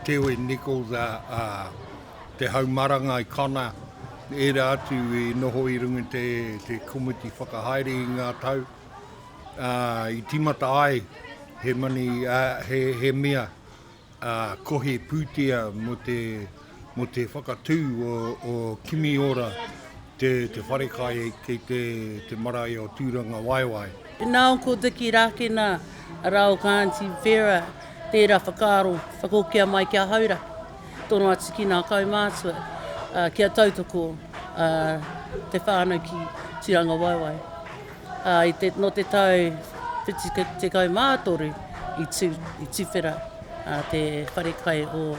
Tewin Nichols a Te Haumaranga i Connor, era atu i noho i runga te te komiti whakahaere i nga tau i timata ai he mani he he mea ā, kohi pūtea mō te, mō te whakatū o, o Kimi Ora, te, te wharekai ki te, te marae o Tūrangawaewae. Nā, ko Dicky Rākena, arā, o kā Aunty Vera, tērā whakaaro, whakahokia mai ki a Haura, tōna atu ki nā kaumātua, ā, kia tautoko, ā, te whānau ki Tūrangawaewae. ā, i te, nō te tau 73 i tū, i tuwhera ā, te whare kai o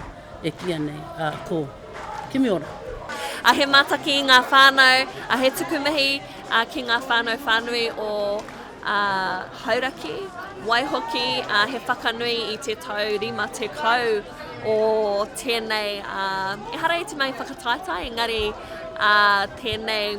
Epia nei, ā, ko Kimiora. Ā, he mātaki i ngā whānau, ā, he tuku mihi, ā, ki ngā whānau whānui o, ā, Hauraki, waihoki, ā, he whakanui i te tau 50 o tēnei, ā, ehara i te mahi whakataetae, engari, ā, tēnei,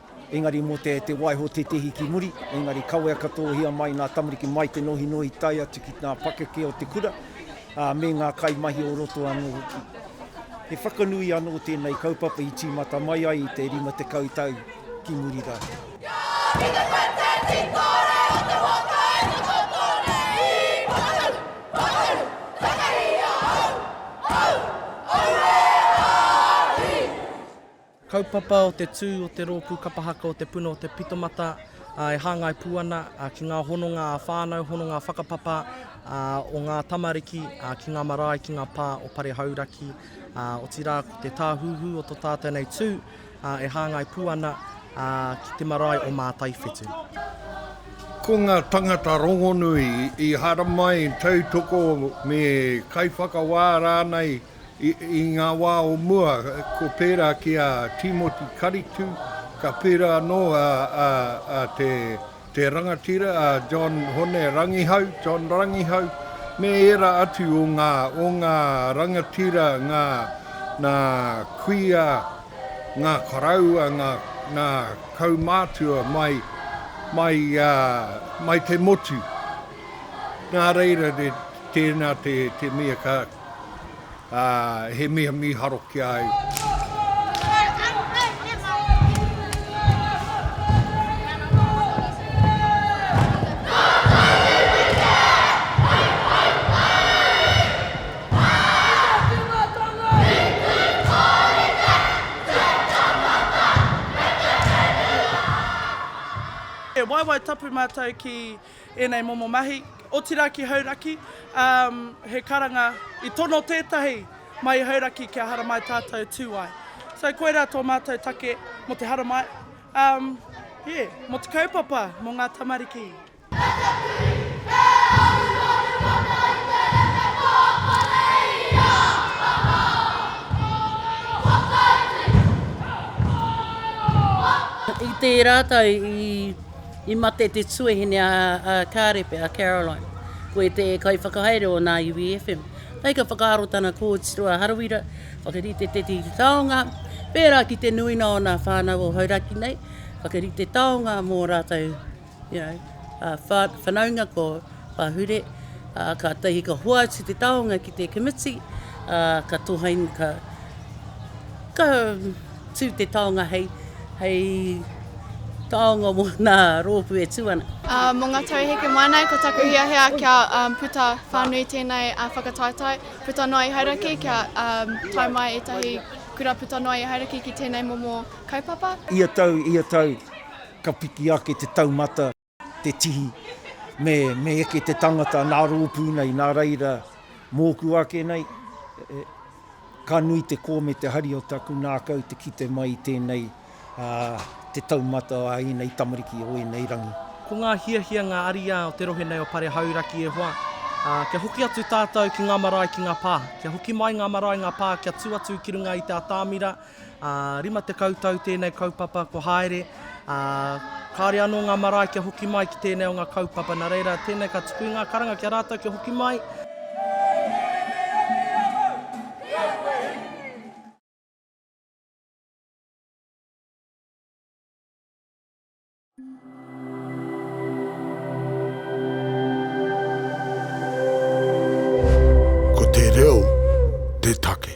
Engari mo te te waiho tetehi ki muri, engari kawea katohia mai nga tamariki mai te nohinohi tae atu ki nga pakeke o te kura, a me nga kaimahi o roto ano hoki. He whakanui ano tenei kaupapa i timata mai ai i te 50 tau ki muri ra. Kaupapa o te tū o te Rōpū Kapa Haka o Te Puna o Te Pitomata e hāngai pū ana ki ngā hononga ā-whānau, hononga whakapapa o ngā tamariki ki ngā marae, ki ngā pā o Pare Hauraki, otirā ko te tāhuhu o tō tātou nei tū e hāngai pū ana ki te marae o Mātaiwhetū. Ko ngā tāngata rongonui i haramai, tautoko me kaiwhakawā rānei, I ngā wā o mua, ko pērā ki a Tīmoti Karitu, ka pērā anō te rangatira a John Hone Rangihau, John Rangihau, me ērā atu o ngā, o ngā rangatira, ngā, ngā kuia, ngā koroua, ngā, ngā kaumātua mai, mai, mai te motu. Nā reira, tēnā te mea ka. ā, he mea mīharo ki a au. He waewae tapu mātou ki ēnei momo mahi, otirā ki Hauraki, ā, he karanga i tono tētahi mai i Hauraki kia haramai tātou tū ai. So, koirā tō mātou take mō te haramai, ā, yeah, mō te kaupapa, mō ngā tamariki. I tērā tau i I mate te tuahine a Kārepe, a Caroline. Ko e te kaiwhakahaere o nā iwi FM. Kai ka whakaaro tana kōtiro a Harawira, whakarite te tiki taonga, pērā ki te nuinga o nā whānau o Hauraki nei, whakarite taonga mō rātou, you know, whanaunga ko. Pahure, ā, kātahi ka hoatu te taonga ki te Committee, ā, ka tohain, ka, ka tū te taonga hei, hei taonga mō nā rōpū e tū ana. Ā, mō ngā tau heke mai nei, ko taku hiahia kia puta whānui tēnei whakataetae, puta noa i Hauraki, kia tae mai ētahi kura puta noa i Hauraki ki tēnei momo kaupapa. Ia tau, ia tau, ka piki ake te taumata. te tihi, me, me eke te tangata nā rōpū nei, nā reira, mōku ake nei, e, ka nui te kō me te hari o taku ngākau te kite mai i tēnei, ā, te taumata a ēnei tamariki o ēnei rangi. Ko ngā hiahia ngā ariā o te rohe nei o Pare Hauraki e hoa, ā, kia hoki atu tātou ki ngā marae ki ngā pā, kia hoki mai ngā marae ngā pā kia tū atu ki runga i te atamira, Ā, rima tekau tau tēnei kaupapa kua haere, ā, kāore anō ngā marae kia hoki mai ki tēnei o ngā kaupapa, nā reira, tēnei ka tuku i ngā karanga ki a rātou kia hoki mai. Ko te reo te take.